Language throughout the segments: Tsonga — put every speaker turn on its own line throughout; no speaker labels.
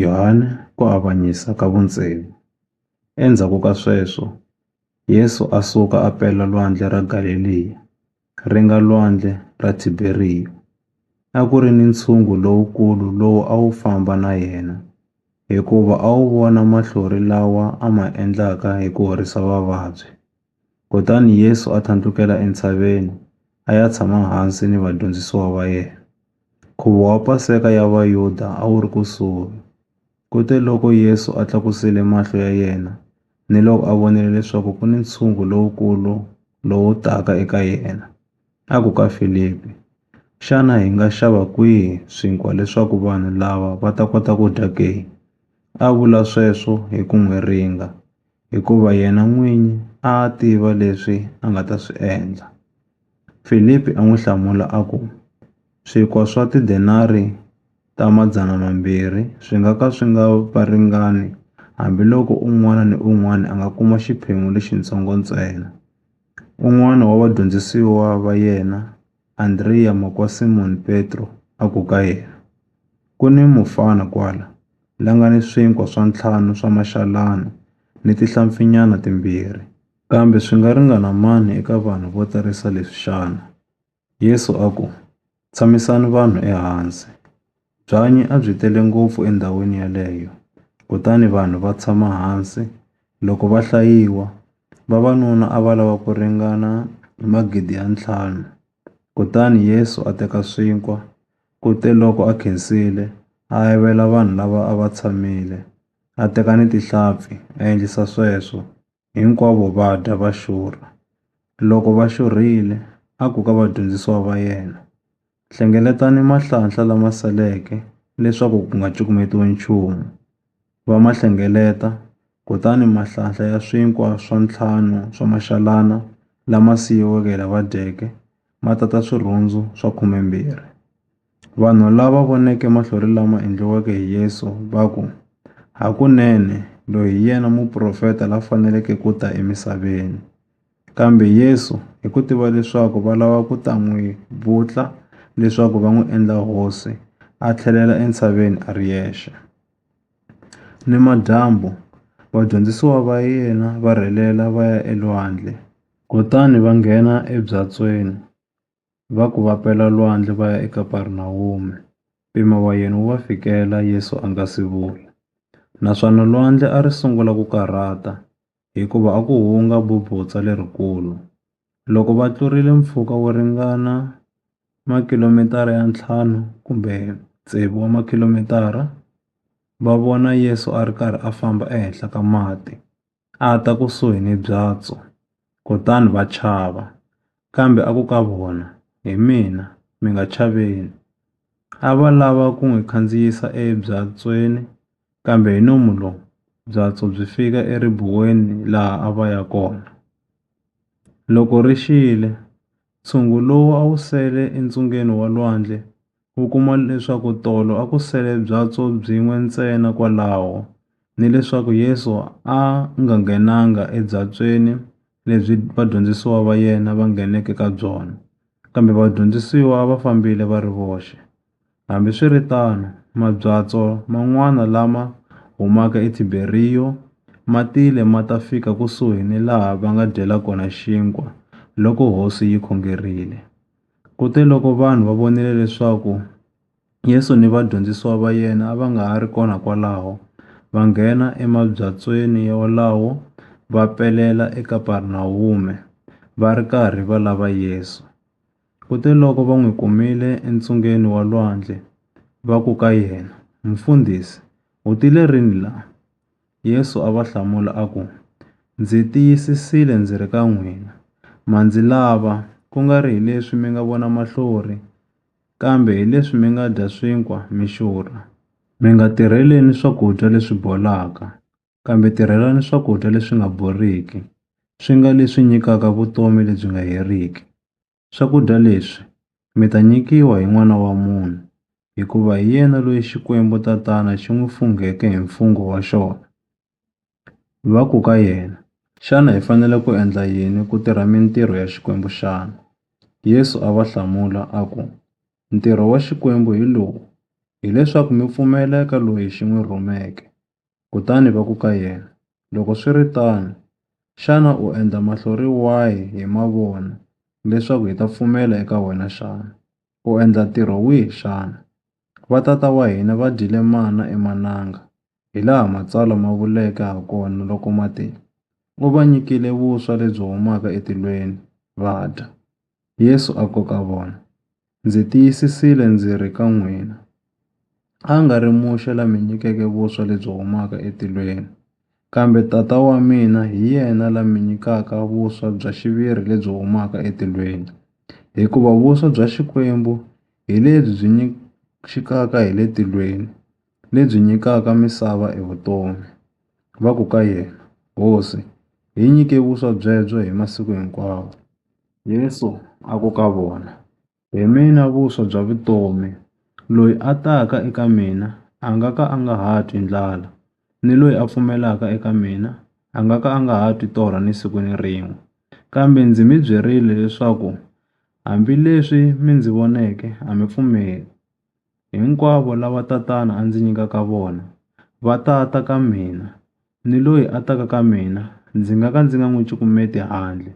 Yohane ku avanyisa ka vundzeni. Endzhaku ka sweswo, Yesu a suka a pela Lwandle ra Galeliya, ri nga Lwandle ra Tiberiya. A ku ri ni ntshungu lowukulu lowu a wu famba na yena, hikuva a wu vona mahlori lawa a ma endlaka hi ku horisa vavabyi. Kutani Yesu a thlandlukela entshaveni, a ya tshama hansi ni vadyondzisiwa va yena. Nkhuvo wa Paseka ya Vayuda a wu ri kusuhi. Kuteloko Yesu a tlakusile mahlo ya yena niloko a vonile leswaku ku ni ntshungu lowukulu lowu taka eka yena, a ku ka Filipi, Xana hi nga xava kwihi swinkwa leswaku vanhu lava va ta kota ku dya ke? A vula sweswo hi ku n'wi ringa. hikuva yena n'winyi a a tiva leswi a nga ta swi endla. Filipi a n'wi hlamula a ku, Swinkwa swa tidenari ta madzana mambirhi swi nga ka swi nga va ringani hambiloko un'wana ni un'wana a nga kuma xiphemu lexitsongo ntsena. Un'wana wa vadyondzisiwa va yena, Andreya makwa Simoni Petro, a ku ka yena, Ku ni mufana kwala, la nga ni swinkwa swa ntlhanu swa maxalana ni tihlampfinyana timbirhi. Kambe swi nga ringana mani eka vanhu vo tarisa leswi xana? Yesu a ku, Tshamisani vanhu ehansi. Byanyi a byi tele ngopfu endhawini yaleyo, kutani vanhu va tshama hansi. Loko va hlayiwa, vavanuna a va lava ku ringana magidi ya ntlhanu. Kutani Yesu a teka swinkwa, kuteloko a khensile, a avela vanhu lava a va tshamile, a teka ni tihlampfi, a endlisa sweswo. hinkwavo va dya va xurha. Loko va xurhile, a ku ka vadyondzisiwa va yena, Hlengeletani mahlanhla lama seleke leswaku ku nga cukumetiwi nchumu. Va ma hlengeleta, kutani mahlanhla ya swinkwa swa ntlhanu swa maxalana lama siyiweke hi lava dyeke ma tata swirhundzu swa khumembirhi. Vanhu lava voneke mahlori lama endliweke hi Yesu va ku, Hakunene, loyi hi yena muprofeta la faneleke ku ta emisaveni. Kambe Yesu, hi ku tiva leswaku va lava ku ta n'wi vutla leswaku va n'wi endla hosi, a tlhelela entshaveni a ri yexe. Nimadyambu, vadyondzisiwa va yena va rhelela va ya elwandle, kutani va nghena ebyatsweni. va ku va pela lwandle va ya eKaparinawume, mpimo wa yena wu va fikela Yesu a nga si vuya. Naswona lwandle a ri sungula ku karhata, hikuva a ku hunga bubutsa lerikulu. Loko va tlurile mpfhuka wo ringana makilomitara ya ntlhanu kumbe tsevu wa makhilomitara, va vona Yesu a ri karhi a famba ehenhla ka mati. a ta kusuhi ni byatso, kutani va chava. Kambe a ku ka vona, Hi mina, mi nga chaveni. A va lava ku n'wi khandziyisa ebyatsweni, kambe hi nomu lowu, byatso byi fika eribuweni laha a va ya kona. Loko ri xile, ntshungu lowu a wu sele entsungeni wa lwandle u kuma leswaku tolo a ku sele byatso byin'we ntsena kwalaho, ni leswaku Yesu a a nga nghenanga ebyatsweni lebyi vadyondzisiwa va yena va ngheneke ka byona, kambe vadyondzisiwa va fambile va ri voxe. Hambi swi ri tano, mabyatso man'wana lama humaka eThiberiyo ma tile ma ta fika kusuhi ni laha va nga dyela kona xinkwa loko Hosi yi khongerile. Kuteloko vanhu va vonile leswaku Yesu ni vadyondzisiwa va yena a va nga ha ri kona kwalaho, va nghena emabyatsweni wolawo va pelela eKaparinawume, va ri karhi va lava Yesu. Kuteloko va n'wi kumile entsungeni wa lwandle, va ku ka yena, Mufundhisi, u tile rini la? Yesu a va hlamula a ku, Ndzi tiyisisile ndzi ri ka n'wina, ma ndzi lava, ku nga ri hileswi mi nga vona mahlori, kambe hileswi mi nga dya swinkwa mi xurha. Mi nga tirheleni swakudya leswi bolaka, kambe tirhelani swakudya leswi nga boriki, swi nga leswi nyikaka vutomi lebyi nga heriki. Swakudya leswi mi ta nyikiwa hi N'wana wa munhu, hikuva hi yena loyi Xikwembu Tatana xi n'wi fungheke hi mfungho wa xona. Va ku ka yena, Xana hi fanele ku endla yini ku tirha mintirho ya Xikwembu xana? Yesu a va hlamula a ku, Ntirho wa Xikwembu hi lowu, hileswaku mi pfumela eka loyi xi n'wi rhumeke. Kutani va ku ka yena, Loko swi ri tano, xana u endla mahlori wahi hi mavona leswaku hi ta pfumela eka wena xana? U endla ntirho wihi xana? Vatata wa hina va dyile mana emananga, hilaha Matsalwa ma vuleke hakona loko ma te, U va nyikile vuswa lebyi humaka etilweni, va dya. Yesu a ku ka vona, Ndzi tiyisisile ndzi ri ka n'wina, a nga ri muxe la mi nyikeke vuswa lebyi humaka etilweni, kambe Tata wa mina hi yena la mi nyikaka vuswa bya xiviri lebyi humaka etilweni. Hikuva vuswa bya Xikwembu hi lebyi byi xikaka hi le tilweni, lebyi nyikaka misava e vutomi. Va ku ka yena, Hosi, hi nyike vuswa byebyo hi masiku hinkwawo. Yesu a ku ka vona, Hi mina vuswa bya vutomi, loyi a taka eka mina a nga ka a nga ha twi ndlala, ni loyi a pfumelaka eka mina a nga ka a nga ha twi torha ni siku ni rin'we. Kambe ndzi mi byerile leswaku hambileswi mi ndzi voneke a mi pfumeli. Hinkwavo lava Tatana a ndzi nyikaka vona, va ta ta ka mina, ni loyi a taka ka mina ndzi nga ka ndzi nga n'wi cukumeti handle.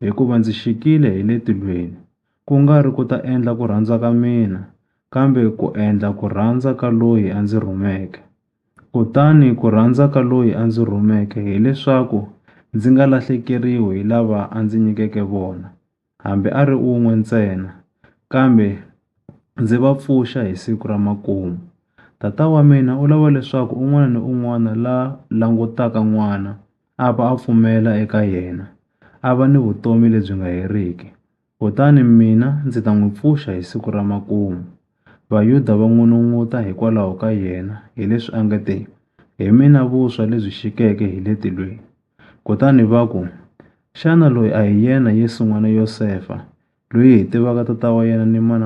Hikuva ndzi xikile hi le tilweni, ku nga ri ku ta endla ku rhandza ka mina, kambe ku endla ku rhandza ka loyi a ndzi rhumeke. Kutani ku rhandza ka loyi a ndzi rhumeke hileswaku ndzi nga lahlekeriwi hi lava a ndzi nyikeke vona. hambi a ri un'we ntsena, kambe ndzi va pfuxa hi siku ra makumu. Tata wa mina u lava leswaku un'wana ni un'wana la langutaka n'wana a va a pfumela eka yena, a va ni vutomi lebyi nga heriki. Kutani mina ndzi ta n'wi pfuxa hi siku ra makumu. Vayuda va n'unun'uta hikwalaho ka yena, hileswi a nge te, Hi mina vuswa lebyi xikeke hi le tilweni. Kutani va ku, Xana loyi a hi yena Yesu n'wana Yosefa, loyi hi tivaka tata wa yena ni mana wa yena?